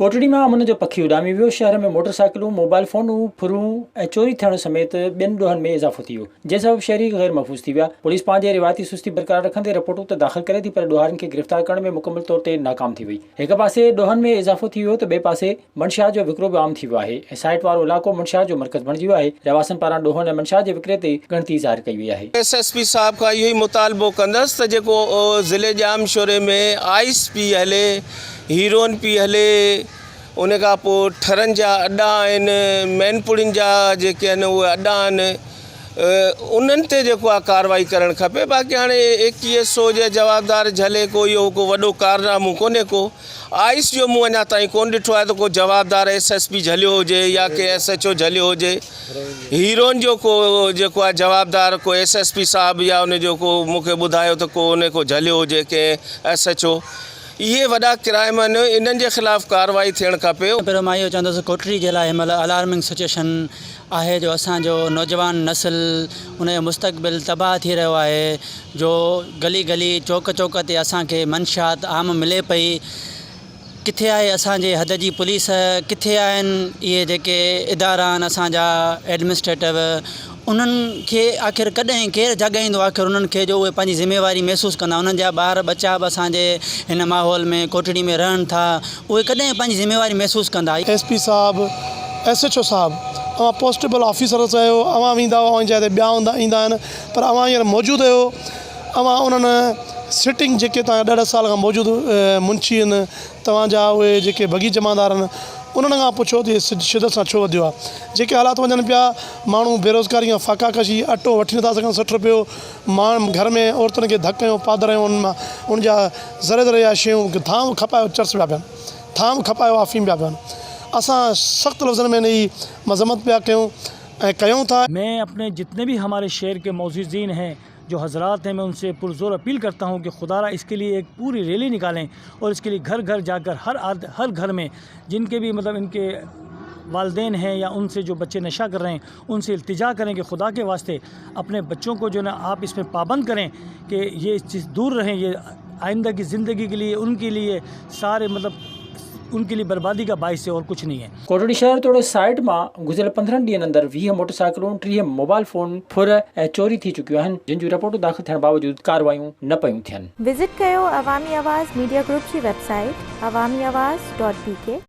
ڪوٽڙي مان امن جو پکي اڏامي ويو، شهر ۾ موٽر سائيڪلون، موبائل فونون، ڦرون ۽ چوري ٿيڻ سميت ٻين ڏوهن ۾ اضافو ٿي ويو، جنهن سبب شهري غير محفوظ ٿي ويا، پوليس پنهنجي روايتي سستي برقرار رکندي رپورٽون ته داخل ڪري ٿي پر ڏوهارين کي گرفتار ڪرڻ ۾ مڪمل طور تي ناڪام ٿي وئي، هڪ پاسي ڏوهن ۾ اضافو ٿي ويو ته ٻئي پاسي. منشيات جو وڪرو به عام ٿي ويو آهي ۽ سائيٽ وارو علائقو منشيات جو مرڪز بڻجي ويو آهي، رهواسين پاران ڏوهن ۽ منشيات جي وڪري تي ڳڻتي ظاهر ڪئي وئي آهي. ايس ايس پي صاحب کان اهو ئي مطالبو ڪندس ته جيڪو ضلعي ڄام شوري ۾ آئس پي هلي، هيروئن پي هلي، ان کان پوء ٺرن جا اڏا آهن، مين پوڙهين جا جيڪي آهن اهي اڏا آهن، انهن تي جيڪو آهي ڪارروائي ڪرڻ کپي، باقي هاڻي اي ڪي ايس او جي جوابدار جهلي ڪو اهو ڪو وڏو ڪارنامو ڪونهي ڪو. آئس جو مون اڃا تائين ڪونه ڏٺو آهي ته ڪو جوابدار ايس ايس پي جهليو هجي يا ڪي ايس ايڇ او جهليو هجي هيروئن جو ڪو جيڪو آهي جوابدار ڪو ايس ايس پي صاحب يا ان جو ڪو مون کي ٻڌايو ته ڪو ان ڪو جهليو هجي ڪنهن ايس ايڇ او اهي وڏا ڪرائم آهن انهن جي خلاف ڪارروائي ٿيڻ کپي. پهريون مان اهو چوندس ڪوٽڙي جي لاء هن مهل الارمنگ سچويشن آهي جو اسان جو نوجوان نسل ان جو مستقبل تباهه ٿي رهيو آهي جو گلي گلي چوڪ چوڪ تي اسان کي منشيات عام ملي پئي ڪٿي آهي اسان جي حد جي پوليس ڪٿي آهن اهي جيڪي ادارا آهن اسان جا ايڊمنسٽريٽو انهن کي آخر ڪڏهن ڪير جاڳائيندو آخر انهن کي جو اهي پنهنجي ذميواري محسوس ڪندا انهن جا ٻار ٻچا به اسان جي هن ماحول ۾ ڪوٽڙي ۾ رهن ٿا اهي ڪڏهن پنهنجي ذميواري محسوس ڪندا؟ ايس پي صاحب، ايس ايڇ او صاحب، اوهان پوسٽيبل آفيسرس آهيو، اوهان ويندا اوهان جي جاء تي ٻيا هوندا ايندا آهن پر اوهان هينئر موجود اهيو، اوهان انهن سٽنگ جيڪي توهان ڏهه ڏهه سال کان موجود منشي اهن توهان جا اهي جيڪي بگي جمعدار اهن انهن کان پڇو ته اهي شدت سان ڇو وڌيو آهي جيڪي حالات وڃن پيا ماڻهو بيروزگاري کان فاقا ڪشي اٽو وٺي نٿا سگهن سٺ رپيو ماڻهن گهر ۾ عورتن کي ڌڪ ۽ پادر ۽ انهن مان ان جا ذري ذري جا شيون ٿانو کپايو چرس پيا پين، ٿانو کپايو آفيم پيا پين. اسان سخت لفظن ۾ ان جي مذمت پيا ڪيون ۽ ڪيون ٿا. مين اپني جتني بي هماري شهر ڪي معززين هي جو حضرات هي مين ان سي پر زور اپيل ڪرتا هون ڪي خدا را اسڪي ليي ايڪ پوري ريلي نڪالين اور اسڪي ليي گهر گهر جا ڪر هر آد هر گهر مين جن ڪي بي مطلب ان ڪي والدين هي يا ان سي جو بچي نشا ڪر رهي هي ان سے التجا کریں کہ خدا کے واسطے اپنے بچوں کو جو ہے نا آپ اس میں پابند کریں کہ یہ اس چیز دور رہیں یہ آئندہ کی زندگی کے لیے ان کے لیے سارے مطلب ان کے لیے بربادی کا باعث ہے اور کچھ نہیں ہے۔ ڪوٽڙي شهر توڙي سائيٽ مان گذريل پندرهن ڏينهن اندر ويهه موٽرسائيڪلون، ٽيهه موبائل فون ڦر ۽ چوري ٿي چڪيون آهن، جن جون رپورٽون داخل ٿيڻ باوجود ڪارروايون نه پيون ٿين. وزٽ ڪيو عوامي آواز ميڊيا گروپ جي website Awami Awaz dot بي ڪي.